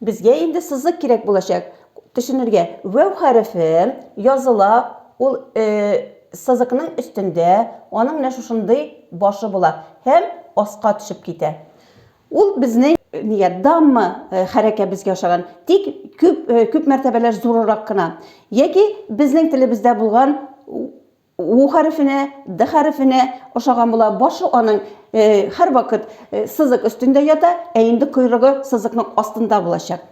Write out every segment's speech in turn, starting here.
Безгә инде сызык кирәк булачак. Төшенергә. Вәү хәрефе языла, ул э, сызыкның өстендә, аның менә шушындый башы була һәм аска төшеп китә. Ул безнең нигә дамма э, хәрәкәбезгә ошаган, тик күп э, күп мәртәбәләр зурырак кына. Яки безнең телебездә булган У хәрефенә, Д хәрефенә ошаган була. Башы аның һәрвакыт сызык өстендә ята, ә инде койрыгы сызыкның астында булачак.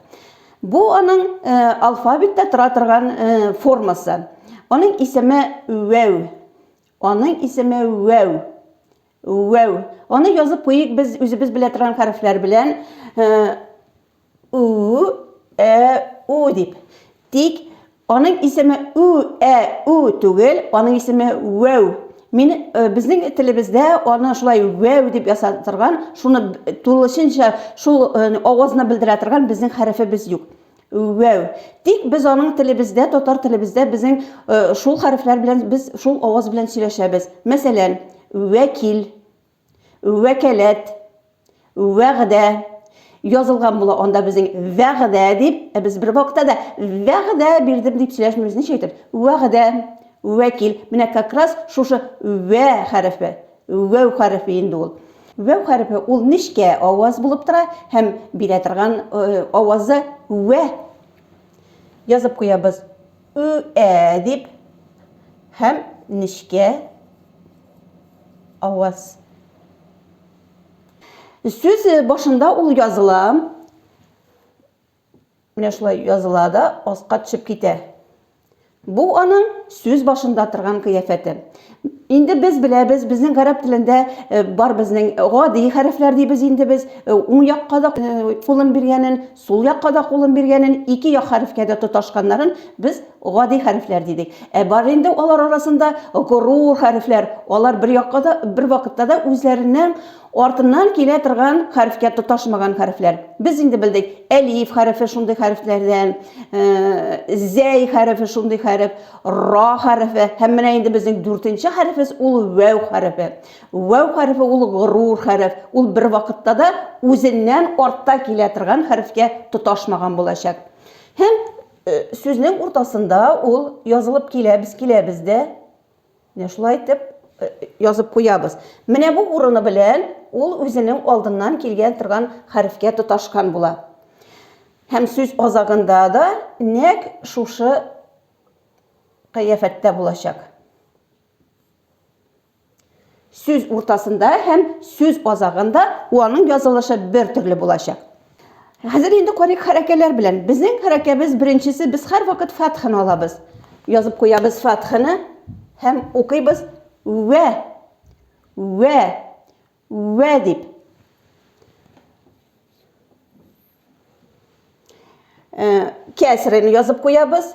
Бу аның алфавитта тора торган формасы. Аның исеме Вәү. Аның исеме Вәү. Үәү. Аны язып куйыйк без үзебез белә торган хәрефләр белән. У, ә, у дип. Тик аның исеме у, ә, у түгел, аның исеме үәү. Мин э, безнең телебездә аны шулай үәү дип ясап торган, шуны тулысынча шул э, авазны белдерә торган безнең хәрефебез юк. Вәү. Тик без аның телебездә, татар телебездә безнең шул хәрефләр белән без шул аваз белән сөйләшәбез. Мәсәлән, вәкил, вәкаләт, вәгъдә язылган була анда безнең вәгъдә дип, ә без бер вакытта да вәгъдә бирдем дип сөйләшмибез. Ничә әйтеп? Вәгъдә, вәкил. Менә как раз шушы вә хәрефе. Вәү хәрефе инде ул. Вәү хәрефе ул нечкә аваз булып тора һәм бирә торган авазы вә. Язып куябыз. Ү ә дип һәм нечкә аваз. Сүз башында ул языла. Менә шулай языла да аска төшеп китә. Бу аның сүз башында торган кыяфәте. Инде без беләбез, безнең гарәп телендә э, бар безнең гади хәрефләр дибез инде без. Э, уң якка да э, кулын биргәнен, сул якка да кулын биргәнен, ике як хәрефкә дә тоташканнарын без гади хәрефләр дидек. Ә бар инде алар арасында горур хәрефләр. Алар бер якка да бер вакытта да үзләреннән Артыннан килә торган хәрефкә тоташмаган хәрефләр. Без инде белдек, әлиф хәрефе шундый хәрефләрдән, э, зәй хәрефе шундый хәреф, ра хәрефе, һәм менә инде безнең дүртенче хәрефебез ул вәү хәрефе. Вәү хәрефе ул горур хәреф, ул бер вакытта да үзеннән артта килә торган хәрефкә тоташмаган булачак. Һәм э, сүзнең уртасында ул язылып киләбез, киләбез дә, Менә шулай итеп язып куябыз. Менә бу урыны белән ул үзенең алдыннан килгән торган хәрефкә тоташкан була. Һәм сүз азагында да нәк шушы кыяфәттә булачак. Сүз уртасында һәм сүз азагында уаның язылышы бер төрле булачак. Хәзер инде карыйк хәрәкәләр белән. Безнең хәрәкәбез беренчесе без һәрвакыт фатханы алабыз. Язып куябыз фатханы һәм укыйбыз вә вә вә дип. Э, кәсрен язып куябыз.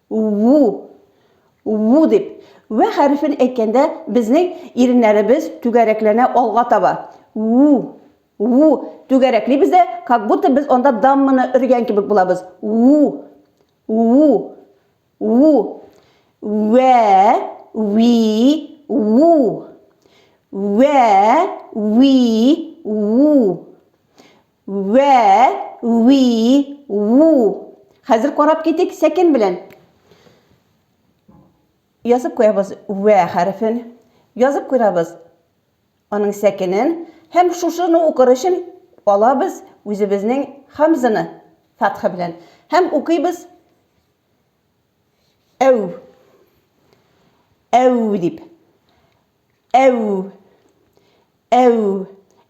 Ву! Ву! дип, вә хәрефен әйткәндә, безнең иреннәребез түгәрәкләнә алга таба. Ву! Ву! Түгәрәклибез дә, как будто без анда дамманы өргән кебек булабыз. Ву! Ву! Ву! Вә! Ви! Ву! Вә! Ви! Ву! Вә, ви, ву. Хәзер карап китик сәкен белән. Язып куябыз вә хәрефен. Язып куябыз аның сәкенен. Һәм шушыны укыр өчен алабыз үзебезнең хамзаны фатха белән. Һәм укыйбыз әү. Әү дип. Әү. Әү.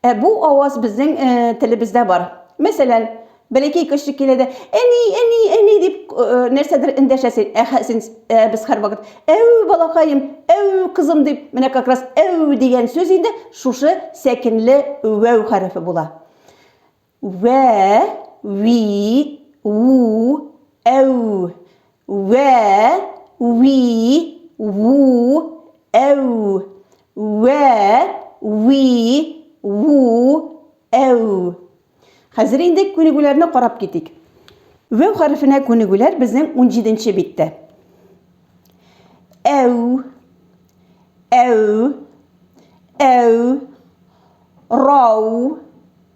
Ә бу аваз безнең э, телебездә бар. Мәсәлән, бәләкәй кеше килә дә, әни, әни, әни дип э, нәрсәдер эндәшәсен. Ә хәзин э, без һәрвакыт әү балакаем, әү кызым дип, менә как раз әү дигән сүз инде шушы сәкенле үәү хәрефе була. Вә, ви, у, әү. Вә, ви, у, әү. Вә, ви, у, әү. Хәзер инде күнегүләрне карап китик. Вәү хәрефенә күнегүләр безнең 17 нче биттә. Әү, әү, әү, рау,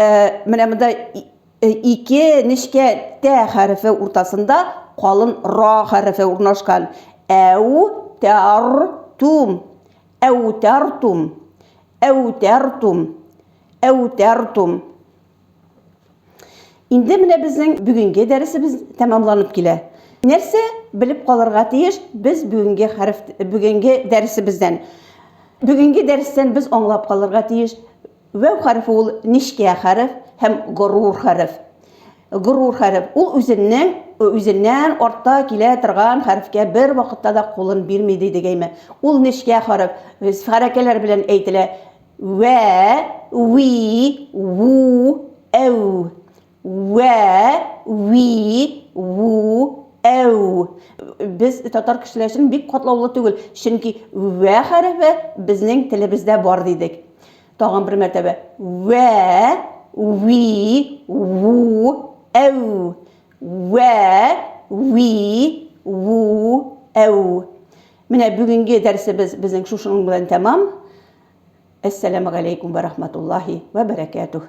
Ә, менә монда э, ике нечкә тә хәрефе уртасында калын ра хәрефе урнашкан. Әу тәр тум. Әу тәр тум. Әу тәр тум. Әу тәр тум. Инде менә безнең бүгенге дәресебез тәмамланып килә. Нәрсә белеп калырга тиеш без бүгенге хәреф бүгенге дәресебездән? Бүгенге дәрестән без аңлап калырга тиеш Вәү хәрефе ул нечкә хәреф һәм горур хәреф. Горур хәреф, ул үзеннең үзеннән артта килә торган хәрефкә бер вакытта да кулын бирми, ди дигәйме. Ул нечкә хәреф, хәрәкәләр белән әйтелә. Вә, ви, ву, әү. Вә, ви, ву, әу. Без татар кешеләр өчен бик катлаулы түгел, чөнки вә хәрефе безнең телебездә бар дидек. Тагын бер мәртәбә. Вә, ви, ву, әу. Вә, ви, ву, әу. Менә бүгенге дәресебез безнең шушының белән тәмам. Әссәламу алейкум вә рахматуллахи вә бәрәкәтүх.